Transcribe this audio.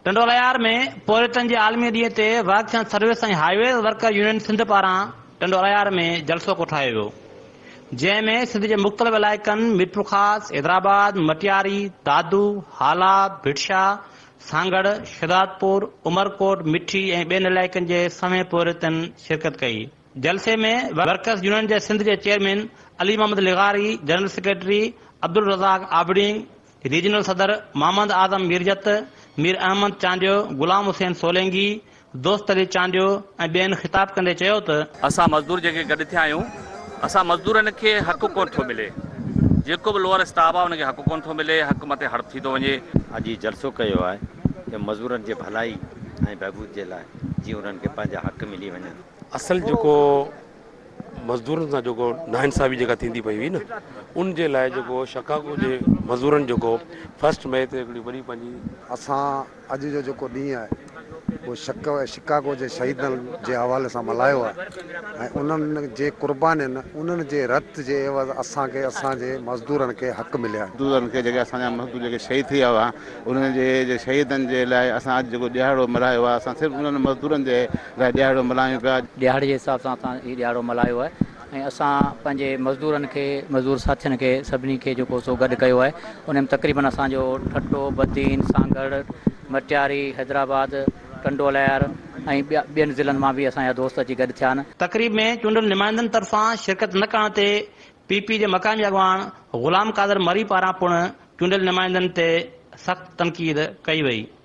ٽنڊوليار ۾ پورهيتن جي عالمي ڏينهن تي ورڪشن service ۽ highways worker union Sindh پاران ٽنڊوليار ۾ جلسو ڪوٺايو ويو جنهن ۾ سنڌ جي مختلف علائقن ميرپورخاص، حيدرآباد، مٽياري، دادو، هالا، ڀٽشاه، سانگهڙ، شهدادپور، عمرڪوٽ، مٺي ۽ ٻين علائقن جي سوين پورهيتن شرڪت ڪئي. جلسي ۾ ورڪرس يونين جي سنڌ جي چيئرمين علي محمد لغاري، general secretary Abdul Razzaq Abring, regional صدر محمد اعظم ميرجت، مير احمد چانڊيو، غلام حسين سولينگي، دوست علي چانڊيو ۽ ٻين خطاب ڪندي چيو ته. اسان مزدور جيڪي گڏ ٿيا آهيون اسان مزدورن کي حق ڪونه ٿو ملي جيڪو به لوئر اسٽاف آهي ان کي حق ڪونه ٿو ملي حق مٿي هڙپ ٿي ٿو وڃي. اڄ هي جلسو ڪيو آهي ته مزدورن جي ڀلائي ۽ بهبود جي لاء جيئن انهن کي پنهنجا حق ملي وڃن. اصل جيڪو مزدورن سان جيڪو ناانصافي جيڪا ٿيندي پئي هئي نه ان جي لاء جيڪو شڪاگو جي مزورن جيڪو فرسٽ مئي تي هڪڙي وڏي پنهنجي اسان اڄ جو جيڪو ڏينهن آهي اهو شڪ شڪاگو جي شهيدن جي حوالي سان ملهايو آهي ۽ انهن جي قربانين انهن جي رت جي عيوض اسان کي اسان جي مزدورن کي حق مليا آهن. مزدورن کي جيڪي اسان جا مزدور جيڪي شهيد ٿي ويا هئا انهن جي شهيدن جي لاء اسان اڄ جيڪو ڏهاڙو ملهايو آهي اسان صرف انهن مزدورن جي لاء ڏيهاڙو ملهايون پيا. ڏيهاڙي جي حساب سان اسان هي ڏيهاڙو ملهايو آهي ۽ اسان پنهنجي مزدورن کي مزدور ساٿين کي سڀني کي جيڪو سو گڏ ڪيو آهي انهي ۾ تقريبن اسان جو ٺٽو، بدين، سانگهڙ، مٽياري، حيدرآباد، ٽنڊوالهيار ۽ ٻيا ٻين ضلعن مان به اسان جا دوست اچي گڏ ٿيا آهن. تقريب ۾ چونڊيل نمائندن طرفان شرڪت نه ڪرڻ تي پي پي جي مقامي اڳواڻ غلام قادر مري پاران پڻ چونڊيل نمائندن تي سخت تنقيد ڪئي وئي.